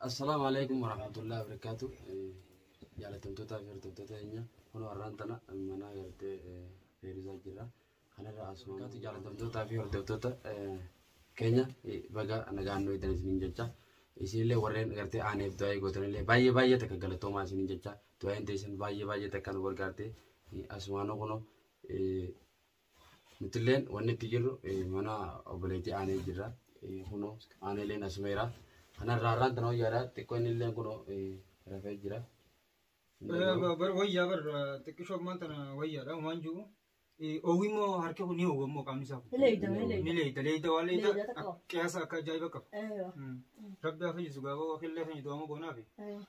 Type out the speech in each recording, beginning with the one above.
Assalaamu alaikum warahmatullahi wabarakaatu. Jaalatamtootaa fi hordoftoota keenya kun warraan tana mana gartee feerisaa jira. Kanarra asuma kaatu jaalatamtootaa fi hordoftoota keenya baga nagaan nu eedan isiniin jecha. Isinillee warreen gartee aaneef du'aa eegootanillee baay'ee baay'ee takka galatoomaa isiniin jecha. Du'aan teessan baay'ee baay'ee takka nu gargaarte. Asumaanoo kunoo Nutilleen wanni itti jirru mana obboleettii aanee jirra. Kunoo aaneeleen asumeera. Kanarraa irraan tana wayyaadha. Xiqqoo inni illee kunoo rafee jira. Bar wayyaa bar xiqqishoo ammaan tana wayyaadha waan jiru. Oowwi immoo harki kun ni oowwa immoo qaamni isaa kun. Ni leeyda, ni leeyda. Ni leeyda leeyda waan leeyda Leeyda takka. qiyaasa akka ajaa'iba qaba. Rabbi haa fayyisu gaaboo akka illee fayyidu waan goonaafi.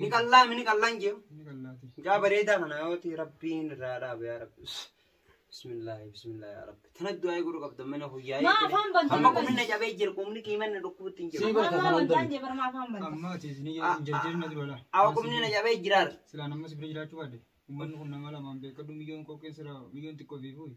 Ni qallaa mini qallaan jee. Ni qallaati. Mucaa bareedaa kana yooti rabbiin irraa dhaabe yaa rabbi. Bismillaahi bismillaahi yaa rabbi. Tana du'aa godhu qabda mana hoyyaa. Maa afaan bantu Amma dubbatu. qubinna cabee jira qubni kiimanna dhukkubutti hin Sii jiru. barta Afaan bantaan jee barmaa afaan banta. Amma ati isin ija hin jarjarin na dura laa. Awa qubni na cabee jiraar. Silaa nammas bira jiraachuu baadde. Uummanni kun nama lamaan beekadhu miyyoon qoqqeen sira miyyoon xiqqoo fi fuuyi.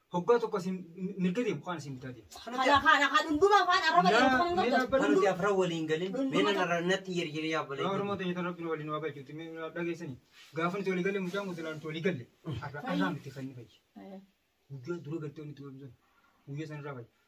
Hoggaa tokko isin mirga deemu kaan isin bitaa deemu. Kana kana kan hundumaa afaan arraba Naa- dheeratu kan hin mee qabdan. dhaabbanni- Kan nuti afran waliin galin. Mee Hunduma nan arra natti hin yerjine yaa Yaa Oromoo obboleetti. ta'e tan rabbiin waliin waa galchuutti mee naa dhageessanii. Gaafa nuti walii galle mucaan kun silaa nuti walii galle. Arra arraa miti kan inni fayyi. Guyyaa dura galtee nuti waliin sun. Guyyaa san irraa fayyi.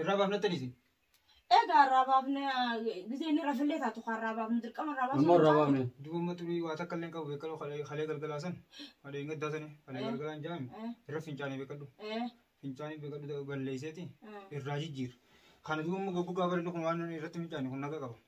Irraa baafnattan isin. Egaa irraa baafne gisee inni rafillee taatu kan irraa baafnu dirqama irraa baafnu. Amma irraa baafne. Duuba amma turii waa takka illee hin qabu beekaloo kalee kalee galgalaa san. Adee hin gaddaa sani kalee Eh. galgalaa hin jaami. Eh. Irra fincaanii beekadhu. Eh, Fincaanii beekadhu balleesseeti eh. irraa jijjiir. Kana duuba immoo goggogaa bareedu kun waan irratti fincaanii kun naga qaba.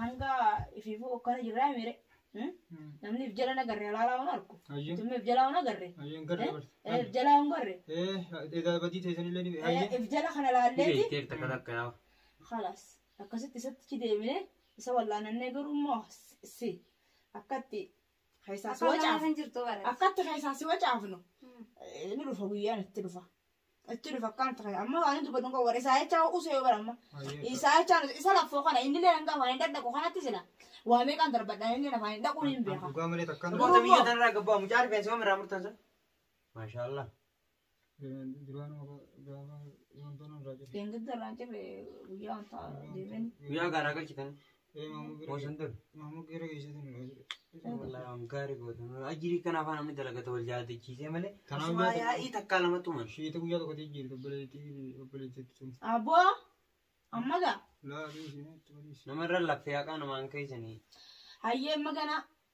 hanga ifiifuu okkana jirraa mire namni if jala nagarre halaalaa hun arku Hayyee. tumma if jalaa hun agarre Hayyee hin garre barti. Eh, if jalaa hun garre Eh, edaa badii teessan illee ni Eh, hayyee. if jala kana laalleeti Beekteef takka takka yaa. خلاص akkasitti isatti deemine isa wallaanannee garuu immoo si akkatti keessaa si Akka wacaaf kan jirtu bara. akkatti keessaa si wacaafnu eh, ni dhufa guyyaan itti dhufa Achi dhufa akkam ta'e amma waan dubbatu kun warra isaa jechaa usee yoo baramma. Isaa jechaa isa laffoo kana inni illee hanga afaan hin dhaqu kanatti sila. Waa meeqaan darbadhaan inni afaan hin dhaqu hin beeka. Dhugaa malee takkaan Namoota Duruma. biyya tanarraa gabbaa mucaa rifeensa yoom irraa murtan san? Maashaallah. duraan gaafa wantoonni irraa jiru. Deengidda irraa hin jirre guyyaa wantaa deemeen. Guyyaa gaaraa galchitan. Gaarii goota. Ajirii kana afaan namni dalagata wal jaalachiisee malee. Kanaaf Asumaa jaalachi- yaa'ii takkaa lama tuman. Shiita guyyaa tokko jijjiirti obboleettii obboleettii sun. Aboo amma gaa Laa fi isheen itti waliis. Namarra laffee haqaa namaan keessanii. hayyee amma ganaa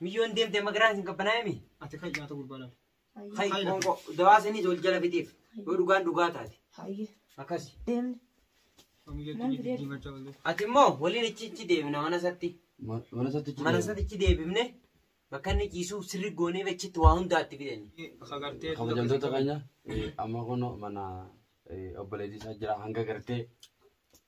Miyyoon deemtee magaraan isin qabbanaa'e mi? Ati kan nyaata gurbaa laal. Hayi qoonqoo dawaa saniis ol jala fixeef yoo dhugaan dhugaa taate Hayye. akkasi. Deemne. Mamiyyatti jijjiirmachaa ooltee. Ati immoo waliin ichi ichi deemna mana isaatti. Mana isaatti Mana isaatti ichi deebifne bakka inni ciisuuf sirri goonee achitti waa hundaatti fidani. Bakka gartee. kabajamtoota keenya eh, amma kun mana eh, obboleettii isaa jira hanga gartee